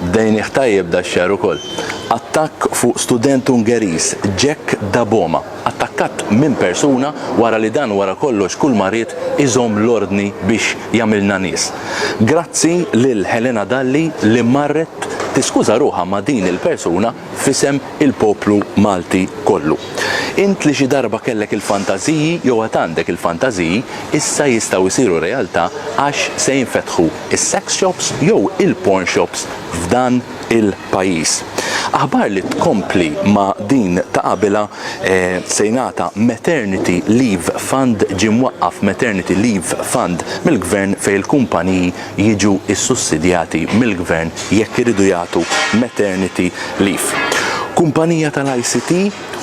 Bdejnih tajjeb dax-xahar ukoll. Attakk fuq student Ungeriż, Jack Daboma, attakkat minn persuna wara li dan wara kollox kull ma ried iżomm l-ordni biex jagħmilna nies. Grazzi lil Helena Dalli li marret tiskuża ruħha ma' din il-persuna f'isem il-poplu Malti kollu. Int li xi darba kellek il-fantażiji jew għad għandek il-fantażiji, issa jistgħu jsiru realtà għax se jinfetħu s-sex shops jew il-porn shops f'dan il-pajjiż. Aħbar li tkompli ma' din ta' qabilha, se jingħata Maternity Leave Fund, ġie mwaqqaf Maternity Leave Fund mill-Gvern fejn il-kumpaniji jiġu ssussidjati mill-Gvern jekk iridu jagħtu maternity leave. Kumpanija tal-ICT,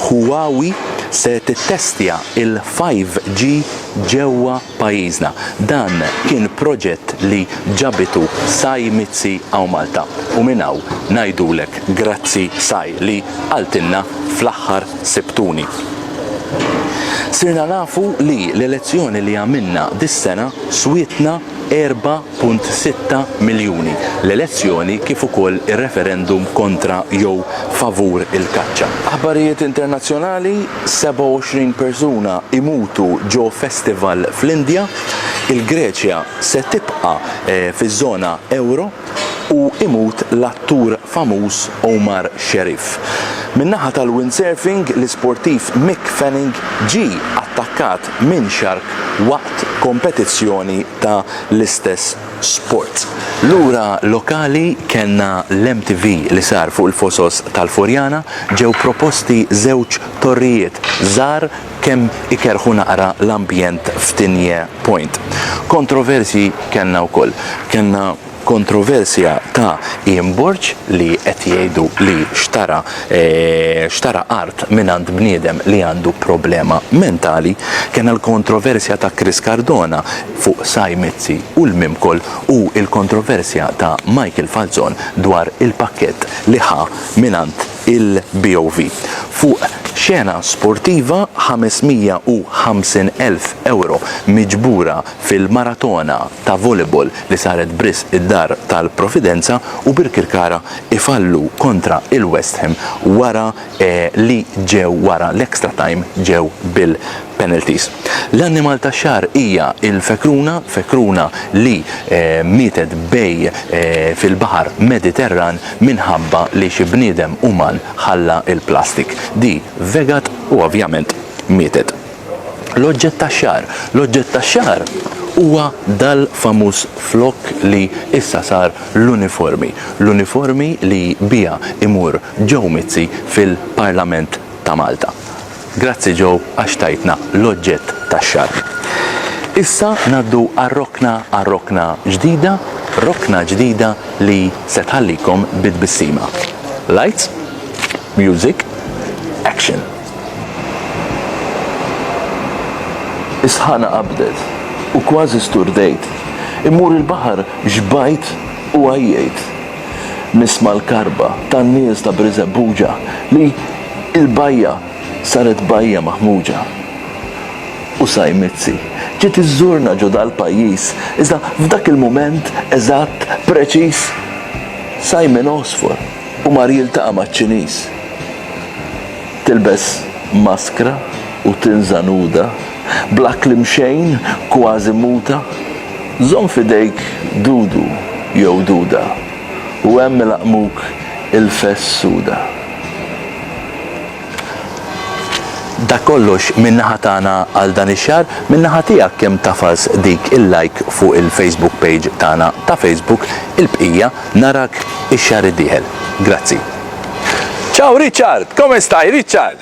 Huawei, se tittestja l-5G ġewwa pajjiżna. Dan kien proġett li ġabitu Sai Mizzi hawn Malta u minn hawn ngħidulek grazzi Sai li qaltilna fl-aħħar sibtuni. Sirna nafu li l-elezzjoni li għamilna dis-sena swietna 4.6 miljuni, l-elezzjoni kif ukoll ir-referendum kontra jew favur il-kaċċa. Aħbarijiet internazzjonali, 27 persuna jmutu ġo festival fl-Indja, il-Greċja se tibqa' fiż-żona ewro. u imut l-attur famuż Omar Sherif. Min-naħa tal-windsurfing, l-isportiv Mick Fanning ġie attakkat minn shark waqt kompetizzjoni ta' l-istess sport. Lura lokali kellna l-MTV li sar fuq il-fosos tal-Furjana, ġew proposti żewġ torrijiet żgħar kemm ikerrħu naqra l-ambjent f'Tinje Point. Kontroversji kellna wkoll. Kellna kontroversja ta' Ian Borg li qed jgħidu li xtara xtara art mingħand bniedem li għandu problema mentali. Kellna l-kontroversja ta' Chris Cardona fuq Sy Mizzi u l-Mimcol u l-kontroversja ta' Michael Falzon dwar il-pakkett li ħa mingħand il-BOV fuq xena sportiva 550,000 ewro miġbura fil-maratona ta' volleyball li saret b'risq id-Dar tal-Providenza u Birkirkara ifallu kontra il-West Ham wara li ġew wara l-extra time ġew bil penalties. L-annimal tax-xahar hija l-fekruna, fekruna li mietet bej fil-baħar Mediterran minħabba li xi bniedem uman ħalla l-plastik. Di vegat u ovvjament mietet. L-oġġett tax-xahar, l-oġġett tax-xahar huwa dal-famuż flokk li issa sar l-uniformi, l-uniformi li biha imur Joe Mizzi fil-Parlament ta' Malta. Grazzi Joe għax tajtna l-oġġett tax-xahar. Issa ngħaddu għar-rokna għal rokna ġdida, rokna ġdida li se tħallikom bi tbissima. Lights, music, action! Is-sħana qabdet u kważi sturdejt. Immur il-baħar xbajt u għajjejt. nisma' l-karba tan-nies ta' Birżebbuġa li l-bajja saret bajja maħmuġa. U Sajmizzi ġiet iżżurna ġo dal-pajjiż iżda f'dak il-mument eżatt preċiż Simon għosfor u mar jiltaqa' maċ-Ċiniż. Tilbes maskra u tinża' nuda. Bla kliem xejn, kważi muta, żomm f'idejk dudu jew duda u hemm ilaqqmuk ilfes suda. Dak kollox minn naħa tagħna għal dan ix-xahar. Minn naħa tiegħek kemm tafas dik il-like fuq il-Facebook page tagħna ta' Facebook. Il-bqija narak ix-xahar id-dieħel. Grazzi. Ciao Richard! Come stai Richard?